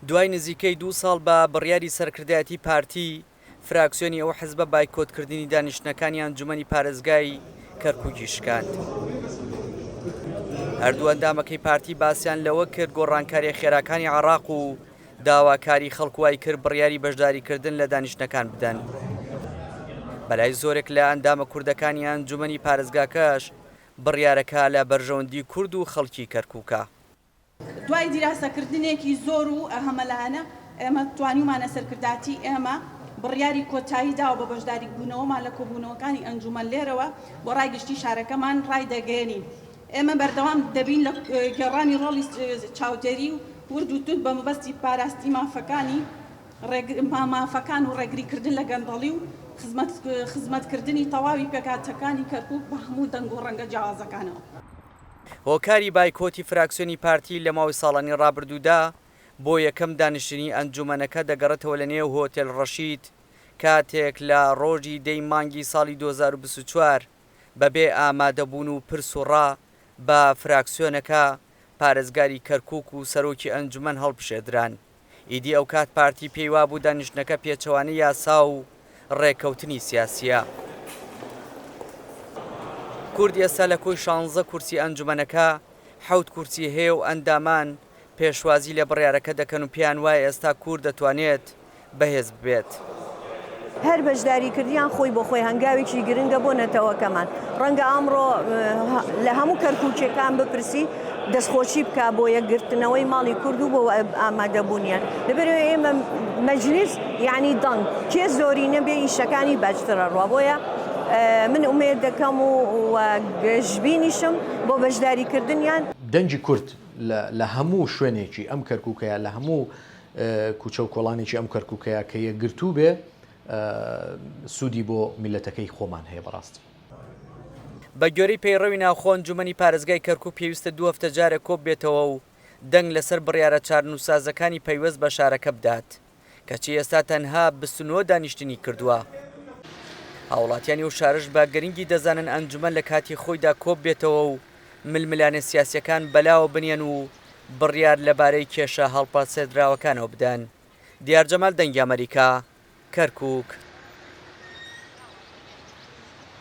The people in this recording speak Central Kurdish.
دوای نزیکەی دوو ساڵ بە بڕیاری سەرکردایەتی پارتی، فراکسیۆنی ئەو حزبە بایکۆتکردنی دانیشتنەکانی ئەنجومەنی پارێزگای کەرکوکی شکاند. هەردوو ئەندامەکەی پارتی باسیان لەوە کرد گۆڕانکاریە خێراکانی عراق و داواکاری خەڵک وای کرد بڕیاری بەشداریکردن لە دانیشتنەکان بدەن. بەلای زۆرێک لە ئەندامە کوردەکانی ئەنجومەنی پارێزگاکەش بڕیارەکە لە بەرژەوەندی کورد و خەڵکی کەرکوکە. دوای دیراسەکردنێکی زۆر و هەمەلایەنە ئێمە توانیومانە سەرکرداتی ئێمە بڕیاری کۆتایی دا و بە بەشداریبوونەوەمان لە کۆبوونەوەکانی ئەنجوومەن لێرەوە بۆ ڕای گشتی شارەکەمان ڕایدەگەیەنین ئێمە بەردەوام دەبین لە گێڕانی ڕۆڵی چاودێری و ورد و توند بە مەبەستی پاراستی مافەکانی مافەکان و ڕێگریکردن لە گەندەڵی و خزمەتکردنی تەواوی پێکهاتەکانی کەرکووک بە هەموو دەنگ و ڕەنگە جیاوازەکانەوە. هۆکاری بایکۆتی فراکسیۆنی پارتی لە ماوەی ساڵانی ڕابردوودا، بۆ یەکەم دانیشتنی ئەنجوومەنەکە دەگەڕێتەوە لە نێو هۆتێل ڕەشید، کاتێک لە ڕۆژی دە ی مانگی ساڵی دوو هەزار و بیست و چوار بەبێ ئامادەبوون و پرس و ڕا بە فراکسیۆنەکە، پارێزگاری کەرکووک و سەرۆکی ئەنجوومەن هەڵبژێردران. ئیدی ئەوکات پارتی پێی وابوو دانیشتنەکە پێچەوانەی یاسا و ڕێککەوتنی سیاسییە. کورد ئێستا لە کۆی شانزە کورسی ئەنجومەنەکە حەوت کورسی هەیە و ئەندامان پێشوازی لە بڕیارەکە دەکەن و پێیان وایە ئێستا کورد دەتوانێت بەهێز بێت. هەر بەشداریکردیان خۆی بۆ خۆی هەنگاوێکی گرنگە بۆ نەتەوەکەمان. ڕەنگە ئەمڕۆ لە هەموو کەرکووکییەکان بپرسی دەستخۆشی بکا بۆ یەکگرتنەوەی ماڵی کورد و بۆ ئامادەبوونیان. لەبەرئەوەی ئێمە مەجلیس یانی دەنگ، کێ زۆرینە بێ ئیشەکانی باشتر ئەڕوا. بۆیە من ئومێد دەکەم و گەشبینیشم بۆ بەشداریکردنیان. دەنگی کورد لە هەموو شوێنێکی ئەم کەرکووکە یا لە هەموو کوچە و کۆڵانێکی ئەم کەرکوکەیا کە یەکگرتوو بێ سوودی بۆ میلەتەکەی خۆمان هەیە بەڕاستی. بە گوێرەی پەیڕەوی ناوخۆ ئەنجومەنی پارێزگای کەرکوک پێویستە دوو هەفتە جارێک کۆببێتەوە و دەنگ لەسەر بڕیارە چارنوسسازەکانی پەیوەست بە شارەکە بدات کەچی ئێستا تەنها بیست و نۆ دانیشتنی کردووە. هاوڵاتیانی ئەو شارەش بە گرنگی دەزانن ئەنجومەن لە کاتی خۆیدا کۆببێتەوە و ململانێ سیاسییەکان بەلاوە بنیەن و بڕیار لەبارەی کێشە هەڵپەسێردراوەکانەوە بدەن. دیار جەمال دەنگی ئەمەریکا، کەرکووک.